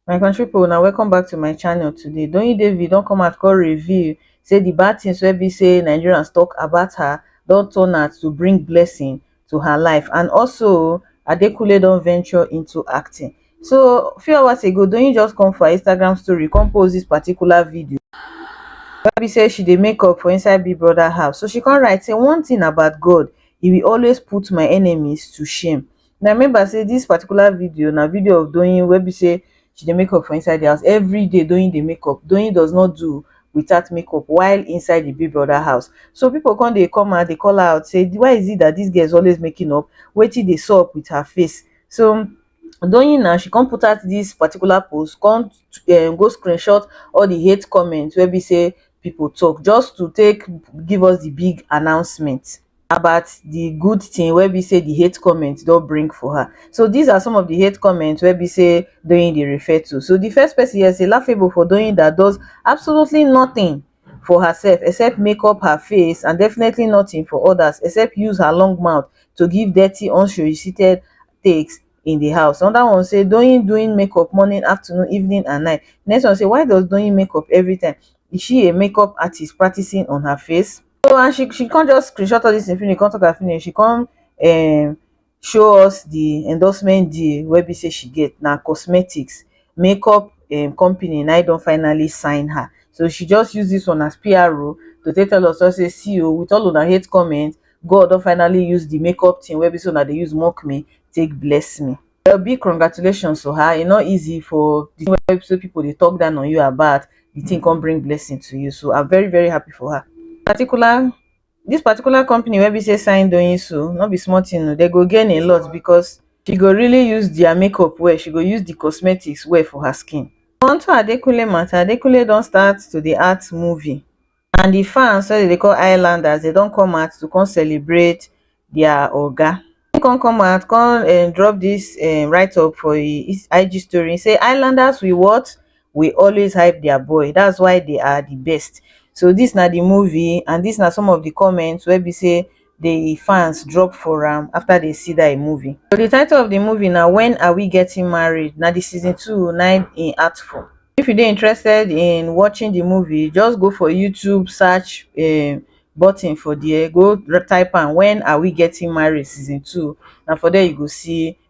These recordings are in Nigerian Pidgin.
my country pipu una welcome back to my channel today Doyin David don come out come reveal say the bad things wey be say Nigerians talk about her don turn out to bring blessing to her life and also adekunle don venture into acting so few hours ago doyin just come for her instagram story come post this particular video wey be say she dey make up for inside big brother house so she come write say one thing about god he will always put my enemies to shame na remember say this particular video na video of doyin wey be say she dey make up for inside the house everyday doing the make up doing does not do without make up while inside the big brother house so people come dey come out dey call her out say why is it that this girl is always making up wetin dey sup with her face so doing now she come put out this particular post come um go screenshot all the hate comment wey be say people talk just to take give us the big announcement about di good tin wey be sey di hate comment don bring for her. So dis are some of di hate comment wey be sey Doyin dey refer to. So di first pesin here say Lafebo for Doyin dat does absolutely notin for herself except make up her face and definitely notin for odas except use her long mouth to give dirty unsolicited takes in di house. Anoda one say Doyin doing make up morning, afternoon, evening and night. Di next one say why does Doyin make up evritime? Is she a make up artist practicing on her face? so and she she come just screenshot all this thing finish, come talk am finish, she come um show us the endorsement deal wey be say she get na cosmetics makeup um company na im don finally sign her so she just use this one as PRO to take tell us all say see o with all una hate comment God don finally use the makeup thing wey be say una dey use mock me take bless me Well big congratulations to her, e no easy for the thing wey so people dey talk down on you about, the thing come bring blessing to you. So I'm very very happy for her. Particular this particular company wey be say sign doing so, no be small thing o, they go gain a lot because she go really use their makeup well, she go use the cosmetics well for her skin. Unto Adekunle matter, Adekunle don start to dey act movie. and di fans wey dem dey call highlanders dem don come out to come celebrate dia oga. Im come come out come um drop dis um write up for im IG story im say highlanders will what will always hype dia boy dats why dey are di best so dis na di movie and dis na some of di comments wey be say the fans drop for am after they see that im movie. So the title of the movie na When Are We Getting Married? Na the season 2 na im im act for. If you dey interested in watching the movie, just go for YouTube search um button for there, go r- type am When Are We Getting Married Season 2. Na for there you go see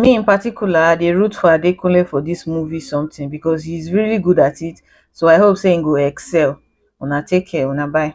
me in particular i dey root for adekunle for dis movie something because he is really good at it so i hope say he go excel una take care una bye